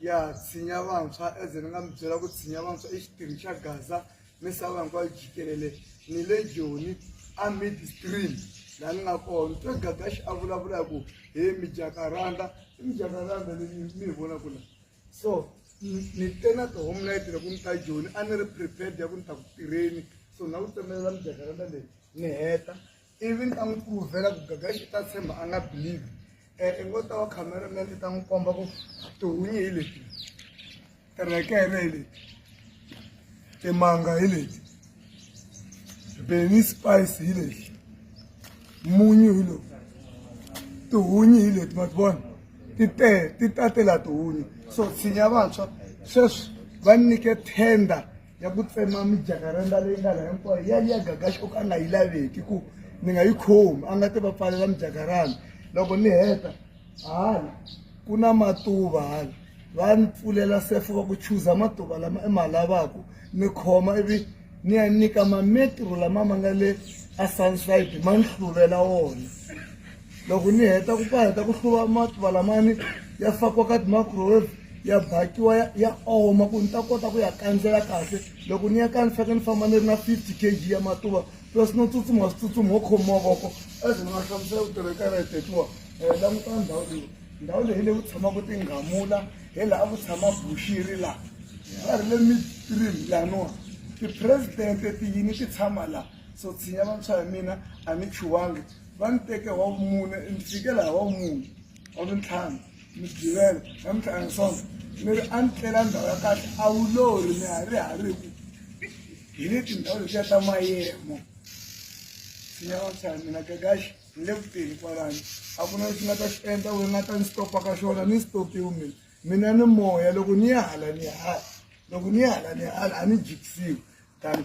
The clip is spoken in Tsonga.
ya tshinya vantshwa as ni nga mi byela ku tshinya vantshwa i xitirhi xa gaza misava hinkwayo jikelele ni le joni a midstream laha ni nga kona ni twe gagaxi a vulavula hi ku he mijakaranda i mijakaranda leyi mi yi vonaka la so ni te na tihome na yi tile ku ni ta joni a ni ri prepared ya ku ni ta ku tirheni so na ku tsemelela mijakaranda leyi ni heta ivi ni ta n'wi pruvhela ku gaga xi ta tshemba a nga believe um i ngo ta wa cameraman i ta n'wi komba ku tihunyi hi leti tirekere hi leti timanga hi leti beni spice hi leti munyu hi lowu tihunyi hi leti ma ti vona ti te ti tatela tihunyi so tshinya vantshwa sweswi va nyike tender ya ku tsema mijakaranda leyi nga laha hinkwayo ya liya gagaxi o ka a nga yi laveki ku ni nga yi khomi a nga ti va pfalela mijakaranda loko ni heta hala ku na matuva hala va ni pfulela sefo va ku chuza matuva lama i ma lavaku ni khoma ivi ni ya nyika mametro lama ma nga le a sunside ma ni hluvela wona loko ni heta ku ka heta ku hluva matluva lamani ya fakiwa ka ti-microwave ya bakiwa ya ya oma ku ni ta kota ku ya kandzela kahle loko ni ya ka ni faneke ni famba ni ri na fifty k g ya matuva plus no tsutsuma switsutsumi ho khomiwa voko as ni nga hlamusela ku tirheka ra hitekiwa um eh, languta ndhawu leyi ndhawu leyi leyi ku tshamaka tinghamula hi laha ku tshama buxiri laha va ri le mitrini laniwa tipresidente tiyini ti tshama laha so tshinya vantshwa hi mina a ni chuwangi va ni teke wa vumune ni fikela hi wa vumune wa mintlhanu ni givela na mintlhanu swona ni ri a ni tlela ndhawu ya kahle a wu lori ni ha ri ha ri ku hi le tindhawu letiya ta mayemo sinyawatsana mina gagaxi ni le kuteni kwalani a ku na lexi nga ta xi endla wu nga ta ni stopa ka xona ni stopiwi mina mina ni moya loko ni ya hala ni hala loko ni ya hala ni hala a ni jikisiwi tani